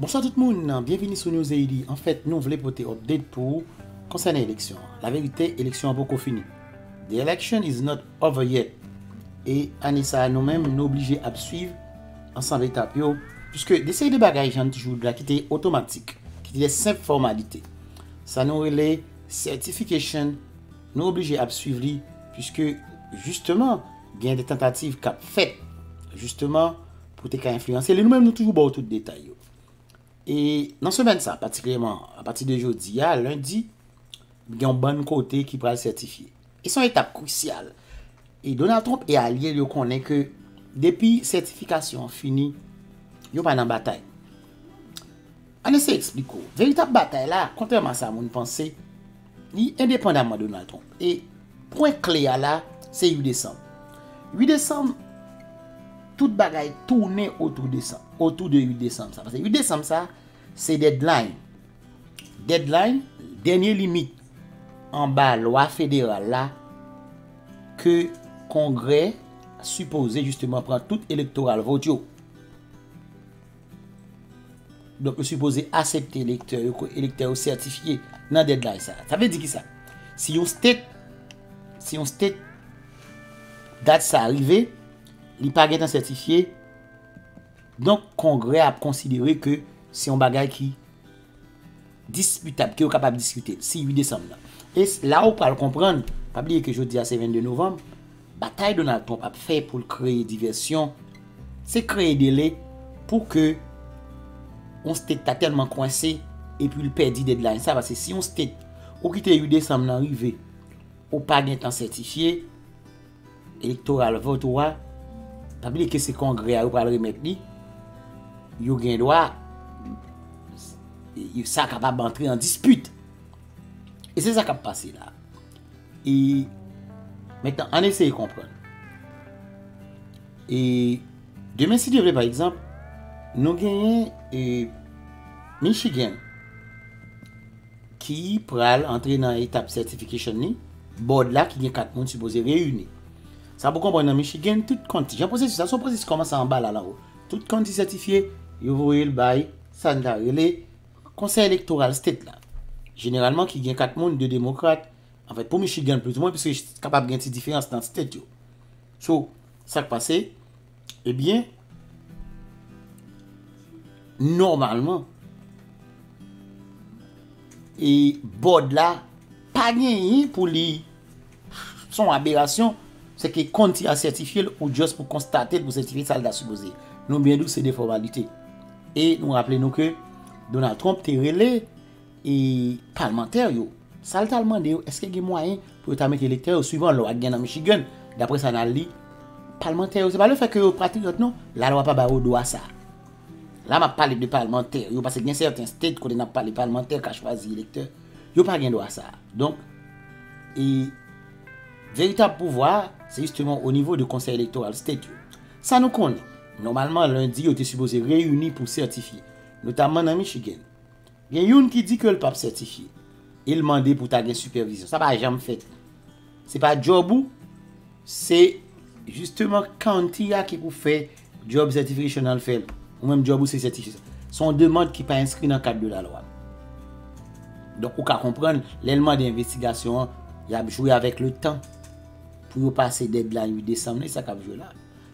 Bonswa tout moun, byenvini sou News Haiti. Anfèt, nou vle pote update pou ou konsènan eleksyon an. Laverite, eleksyon an poko fini. The election is not over yet. E ane sa a nou menm nou oblije ap swiv ansanm etap yo, puiske de seri de bagay jan n toujou di la ki te otomatik, ki te de senp fòmalite. Sa nou rele certification nou oblije ap swiv li, puiske jisteman gen de tantativ k ap fèt jisteman pou w te ka enfliyanse li. Nou menm nou toujou ba w tout detay yo. E nan semèn sa, patikilyèman apati de jodi a, lendi, gen yon bann kote ki pral sètifye. E se yon etap krisyal. E Donald Trump e alye l yo konnen ke depi sètifikasyon an fini, yo pa nan batay. Ann eseye eksplike w. Veritab batay la, kontrèman a sa moun panse, Li endepandaman Donald Trump. E pwen kle a la, se 8 desanm. 8 desanm, tout bagay tounen otou desanm, otou de 8 desanm sa. Pase 8 desanm sa, se deadline. Deadline, dènye limit anba lwa federal la ke kongrè sipoze jisteman pran tout elektoral vot yo. Donk yo sipoze asepte elektè yo, ke elektè yo sètifye nan deadline sa. Sa vle di kisa? Si yon state, si yon state dat sa rive, li pa gentan sètifye, donk kongrè ap konsidere ke se yon bagay ki. Diskitab, ke yo kapab diskite, si 8 desanm nan. E la ou pral konprann, pa bliye ke jodi a se 22 novanm, batay Donald Trump ap fè pou l kreye divèsyon, se kreye dele pou ke yon state ta tèlman kwense e pou l pèdi deadline sa, paske si yon state ou kite 8 desanm nan rive, ou pa gen tan sètifye, Elektoral vòt ou a, pa bliye ke se kongrè a yo pral remèt li, yo gen dwa, sa kapab antre an dispit. E se sa kap pase la. E, metan, an eseye konprann. E, demen si Dye vle pa egzanp, nou genyen e, Michigan. ki pral antre nan etap certification li, Board la ki gen 4 moun sipoze reyini. Sa pou konprann nan Michigan, tout County, jan pwosesis la, se yon pwosesis ki kòmanse anba la al anwo. Tout County sètifye, yo voye l bay sa n ta rele Konsèy Elektoral State la. Jeneralman ki gen 4 moun, 2 Demokrat, anfèt pou Michigan plizoumwen, piske kapab gen ti diferans nan State yo. So, sa k pase? Ebyen, nòmalman, e bòd la pa genyen pou li son aberasyon, se ke kont ti a sètifye l ou just pou konstate l pou sètifye sa l ta sipoze. Nou byen di w se de fòmalite. E nou raple nou ke Donald Trump te rele E palmantè yo, sa l t al mande yo, èske gen mwayen pou yo ta mete elektè yo swivan lwa ki gen nan Michigan? Dapre sa n al li, palmantè yo, se pa lefèt ke yo patriyòt non, lalwa pa ba yo dwa sa. La m ap pale de palmantè yo, paske gen sèten state kote n ap pale palmantè ka chwazi elektè, yo pa gen dwa sa. Donk, e veritab pouvwa a, se jisteman o nivo de konsèy elektoral state yo. Sa nou konnen, nòmalman lendi yo te sipoze reyini pou sètifye, notamman nan Michigan. Gen youn ki di ke l pap sètifye e l mande pou ta gen sipèvizyon. Sa pa janm fèt. Se pa djòb ou, se jisteman county a ki pou fè djòb certification an l fè l. Ou menm djòb ou se sètifye sa. Se yon demand ki pa enskri nan kad de lalwa. Donk ou ka konprann lè l mande envestigasyon an, y ap jwe avèk letan pou yo pase deadline 8 desanm nan. E sa k ap jwe la a?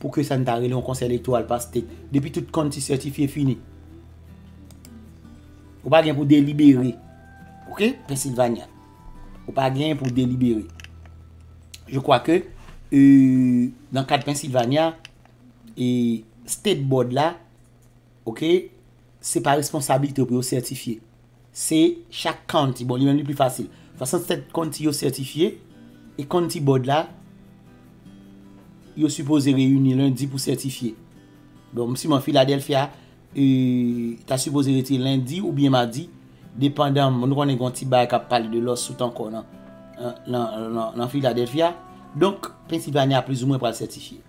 Pou ke sa n ta rele yon konsèy elektoral paske depi tout kont ti sètifye fini. Ou pa gen pou delibere. Ok, Pennsylvania. Ou pa gen pou delibere. Je kwa ke nan kad Pennsylvania e state board la ok se pa responsabilite pou yo sètifye. Se chak county, bon li menm li pi fasil. 67 county yo sètifye e county board la yo sipoze reyini lendi pou sètifye. Bon m siman Philadelphia ta sipoze retire lendi oubyen madi depandan nou konnen gen yon ti bagay kap pale de lawsuit ankò nan Philadelphia. Donk Pennsylvania plizoumwen pral sètifye.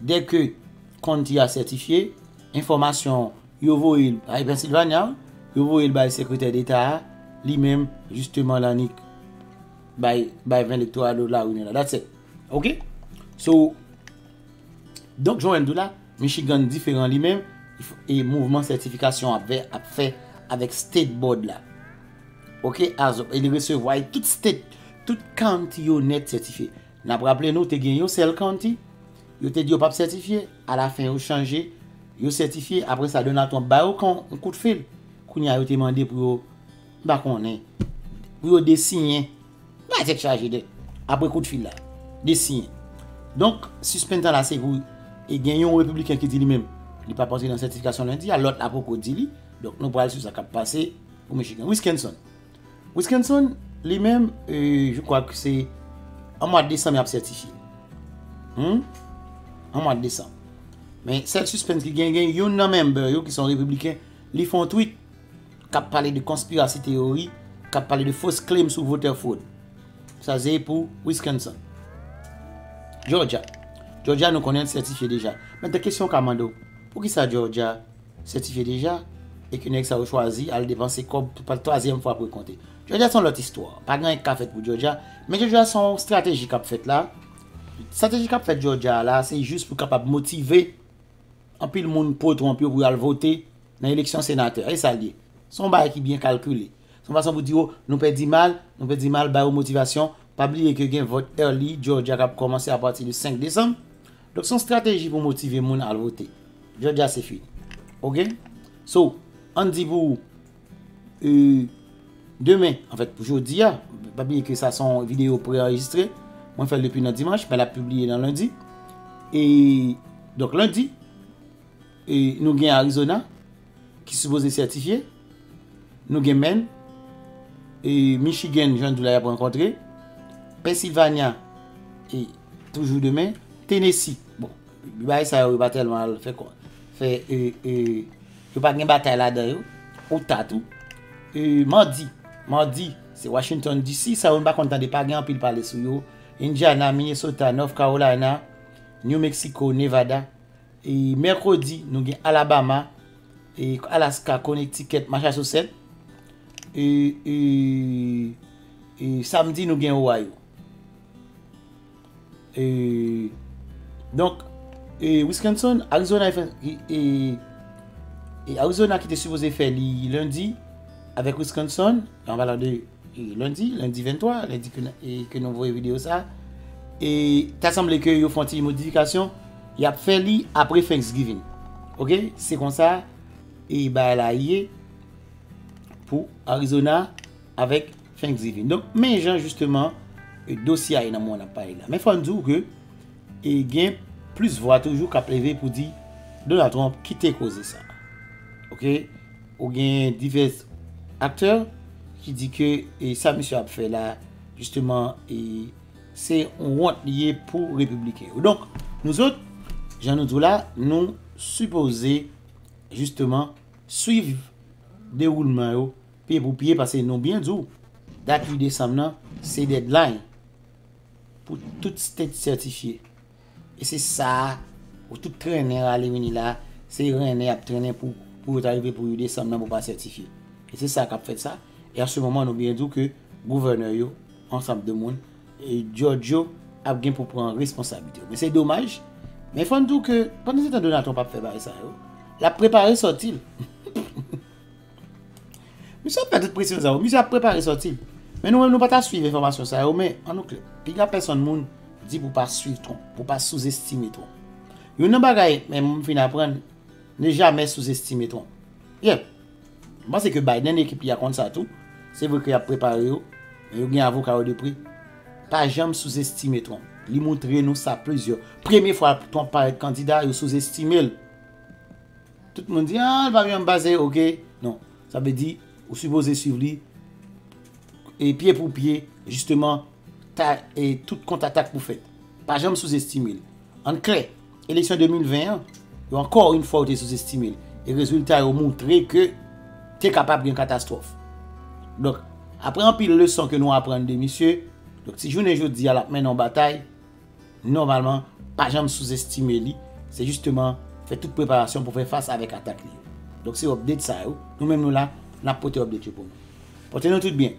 Dèke Konti a sètifye, enfòmasyon yo voye l bay Pennsylvania, yo voye l bay Sekretè Deta a, li menm jisteman l annik bay bay 20 lektoral do la Winona. That's it. Ok? So, donk Joel di w la, Michigan diferan li menm, e mouvman sètifikasyon ap vè ap fè avèk State Board la. Ok? As, e li resevwa e tout State, tout County yo nèt sètifye. N ap raple nou te gen yon sèl county yo te di yo pap sètifye, alafen yo chanje yo sètifye apre sa Donald Trump ba yo yon kout fil kounye a yo te mande pou yo m pa konnen pou yo desiyen bay tèt chaje de apre kout fil la desiyen donk sispenn tan la se pou e gen yon repibliken ki di li menm li pap antre nan sètifikasyon lendi a lòt la poko di li donk nou pral sou sa k ap pase pou Michigan Wiskenson. Wiskenson, li menm, je kwa ke se an mwa desanm y ap sètifye. An mwa desanm. Men, sèl sispens ki gen, gen youn nan member yo ki son repibliken, li fè yon tweet k ap pale de konspirasi teyori, k ap pale de fausse claim sou voter fraud. Sa se pou Wiskenson. Jòjya. Jòjya nou konnen l sètifye deja. Mèt gen kesyon w ka mande w. Poukisa Jòjya? Sètifye deja, e ke nèg sa yo chwazi al depanse kòb pou pa twazyèm fwa pou yo konte. Jòjya se yon lòt istwa. Pa gen anyen ki ka fèt pou Jòjya. Men Jòjya se yon strateji k ap fèt la. Strateji k ap fèt Jòjya a la, se jis pou kapab motive anpil moun po Trump yo pou yo al vote nan eleksyon senatè a. E sa l ye. Se yon bagay ki byen kalkile. Se yon fason pou di yo, nou pèdi mal, nou pèdi mal, ba yo motivasyon. Pa bliye ke gen vòt early Jòjya k ap kòmanse apati de 5 desanm. Donk son strateji pou motive moun al vote. Jodya se fini. Ok? So, an di pou e demen, an fèt pou jodi a, pa bliye ke sa son video pre-enregistre, mwen fèl depi nan dimanche, men la publie nan lundi. E, donk lundi, e nou gen Arizona. ki sipoze sètifye nou gen Menn e Michigan jan nou di la y ap rankontre Pennsylvania e toujou demen Tennessee bon bay sa yo pa tèlman al fè kò fè e e yo pa gen batay la dan yo ou ta tou e madi madi se Washington DC sa yo nou pa konn tande pa gen anpil pale sou yo Indiana Minnesota North Carolina New Mexico Nevada E mèkredi nou gen Alabama, e Alaska, Connecticut, Massachusetts. E e e samdi nou gen Ohio. E donk e Wisconsin, Arizona e e e Arizona ki te sipoze fè li lendi avèk Wisconsin, an palan de E lundi, lundi 23, lundi ke nou voye video sa, e ta sanble ke yo fon ti modifikasyon, yap fè li apre Thanksgiving. Ok, se konsa, e ba la ye, pou Arizona, avèk Thanksgiving. Donk, men jan justeman, e dosye a ye nan moun ap pale la. Men fòn di ou ke, e gen plis vwa toujou kap leve pou di, Donald Trump kite koze sa. Ok. Ou gen divès aktè ki di ke sa misye ap fè la jisteman se yon wont li ye pou repibliken yo. Donk, nou zot, jan nou di w la, nou sipoze jisteman swiv dewoulman yo pye pou pye pase nou byen di w dat 8 desanm nan se deadline pou tout state sètifye. E se sa pou tout trennen rale vini la, se rennen y ap trennen pou pou yo ta rive pou 8 desanm nan pou pa sètifye. E se sa k ap fèt sa, e an se moman nou byen di w ke gouvènè yo, ansanm de moun, djòdj yo ap gen pou pran responsablite yo. Men se domaj, men fò n di w ke pandan se tan Donald Trump ap fè bagay sa yo, l ap prepare sòti l. Misye ap fè tout presyon sa yo, misye ap prepare sòti. Men nou menm nou pa ta swiv enfòmasyon sa yo men an nou klè. Piga pèsòn moun di pou pa swiv twonp, pou pa souzestime twonp. Youn nan bagay men m fin aprann, ne jamè souzestime twonp. Yep, m panse ke Biden ekip li a konn sa tou. Se vre ke y ap prepare yo, men yo gen avoka yo de pre. Pa janm souzestime twonp. Li montre nou sa plizyè. Premye fwa twonp parèt kandida, yo souzestime l. Tout moun di ah li pa vin an pase ok non sa vle di ou sipoze swiv li e pye pou pye jisteman ta e tout kont atak pou fèt pa janm sou zestimel ann klè eleksyon 2020 an yo ankò yn fwa yo te sou zestimel e rezilta yo moutre ke te kapab gen katastwòf donk aprè anpil leson ke nou aprann de misye donk si jounen jodia lap mennen yon batay. Nòmalman, pa janm souzestime li, se jisteman fè tout preparasyon pou fè fas avèk atak li yo. Donk se update sa yo, nou menm nou la, nap pote update yo pou nou. Pòte nou tout byen.